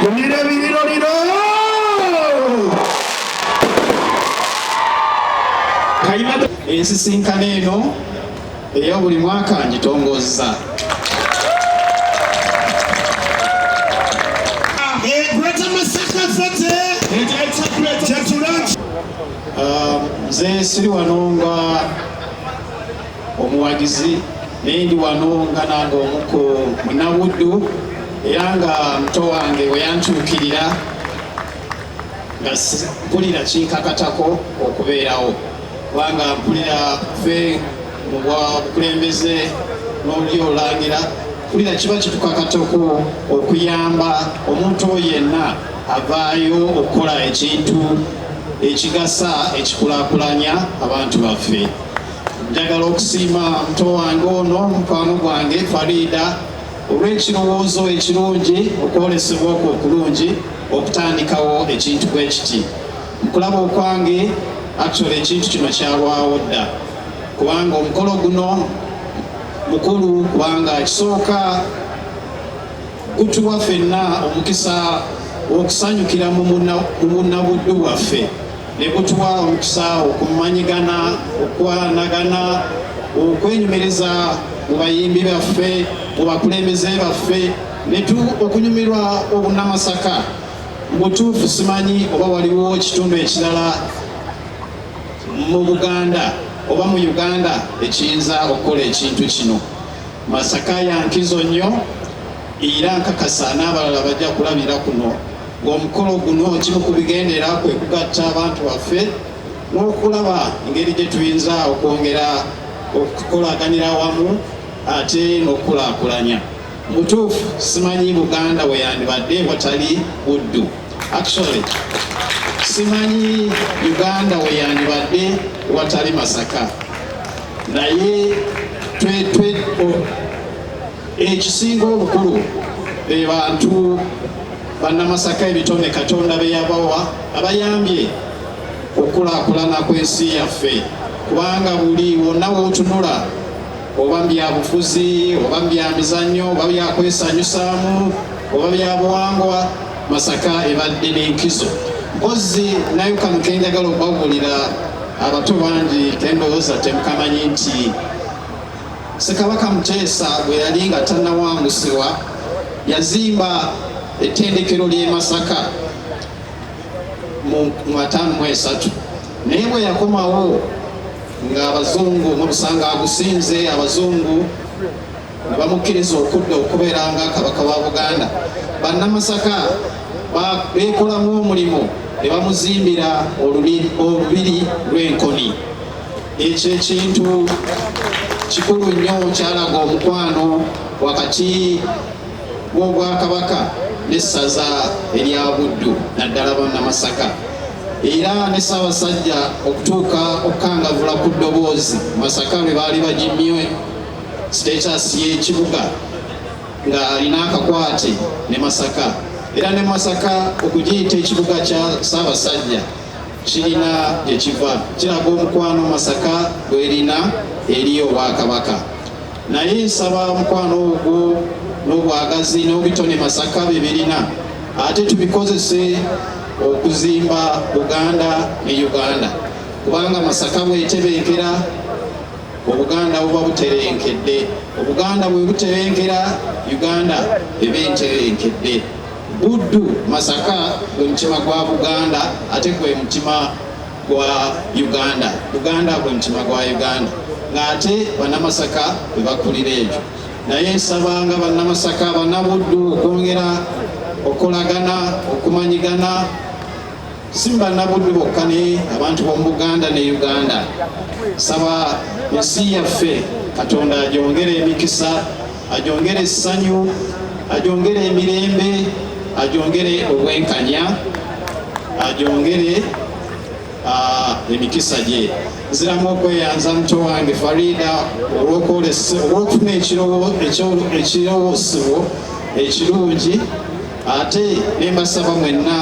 Kumira ebiriro lino kayima ensisinkano eno eya buli mwaka ngitongozza nze siri wano nga omuwagizi naye ndi wano nga nange omu ku munabuddu era nga muto wange bwe yantuukirira nga mpulira kinkakatako okubeerawo kubanga mpulira fe mu bukulembeze n'olulyo olangira mpulira kiba kitukakatako okuyamba omuntu oyo yenna avaayo okukola ekintu ekigasa ekikulakulanya abantu baffe Njagala okusiima muto wange ono mukwano gwange Farida olw'ekirowoozo ekirungi okwolesebwa okwo okulungi okutandikawo ekintu bwe kiti. Mukulaba okwange actually ekintu kino kyalwawo dda kubanga omukolo guno mukulu kubanga kisooka gutuwa fenna omukisa okusanyukira mu bunabuddu bwaffe ne gutuwa omukisa okumanyigana okwanagana okwenyumiriza mu bayimbi baffe mu bakulembeze baffe netu okunyumirwa obunamasaka mubutuufu simanyi oba waliwo ekitundu ekirala mu buganda oba mu uganda ekiyinza okukola ekintu kino masaka yankizo nnyo era nkakasa n'abalala bajja kulabira kuno Omukolo guno kimu ku bigendera kwe kugatta abantu baffe n'okulaba engeri gye tuyinza okwongera okukolaganira awamu ate n'okukulaakulanya. Mutuufu simanyi Buganda we yandibadde watali Buddu. Actually, simanyi Uganda we yandibadde watali Masaka. Naye twetwe ekisinga obukulu be bantu Bannamasaka ebitone Katonda be yabawa abayambye okukulaakulana kw'ensi yaffe kubanga buli wonna w'otunula oba byabufuzi oba byamizannyo oba byakwesanyusaamu oba byabuwangwa masaka ebadde n'enkizo mpozi nayo kano kenjagala okubabulira abato bangi kendowooza temukamanyi nti Ssekabaka Muteesa bwe yali nga tannawangusibwa yazimba ettendekero ly'e Masaka mu ataano mu esatu naye bwe yakomawo ng'abazungu mubusanga agusinze abazungu ne bamukkiriza okudda okubeera nga kabaka wa Buganda bannamasaka beekolamu omulimu ne bamuzimbira olubiri lw'enkoni Ekyo ekintu kikulu nnyo kyalaga omukwano wakati w'Obwakabaka n'essaza erya Buddu naddala Bannamasaka era ne Ssaabasajja okutuuka okukangavula ku ddoboozi Masaka lwe baali bagimye sitekyasi y'ekibuga ng'alina akakwate ne Masaka era ne Masaka okugiyita ekibuga kya Ssaabasajja kirina gye kiva kiraga omukwano masaka gwerina eri obwakabaka naye nsaba omukwano ogwo n'obwagazi n'obitone masaka bye birina ate tubikozese okuzimba buganda ne uganda kubanga masaka bwetebenkera obuganda buba buterenkedde obuganda bwe butebenkera uganda eba enterenkedde Buddu, Masaka gwe mutima gwa Buganda ate gwe mutima gwa Uganda. Buganda gwe mutima gwa Uganda ng'ate Bannamasaka bwe bakulira ekyo. Naye nsaba nga Bannamasaka, Bannabuddu okwongera okolagana, okumanyigana si Bannabuddu bokka ne abantu b'omu Buganda ne Uganda. Nsaba ensi yaffe Katonda agyongere emikisa. ajongere essanyu ajongere emirembe ajongere obwenkanya ajongere ah, emikisa gye nziramu okweyanza muto wange farida olwokufuna ekirowosebwo ekirungi ate nembasaba mwenna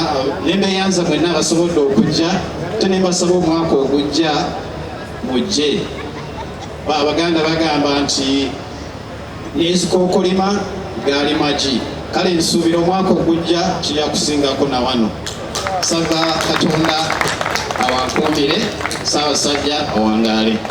nembeyanza mwenna abasobodde okujja ate nembasaba omwaka ogujja mujje abaganda bagamba nti n'ezikookolima gaali magi kale nsuubira omwaka ogujja kija kusingako na wano saba katonda awakuumire saabasajja awangaale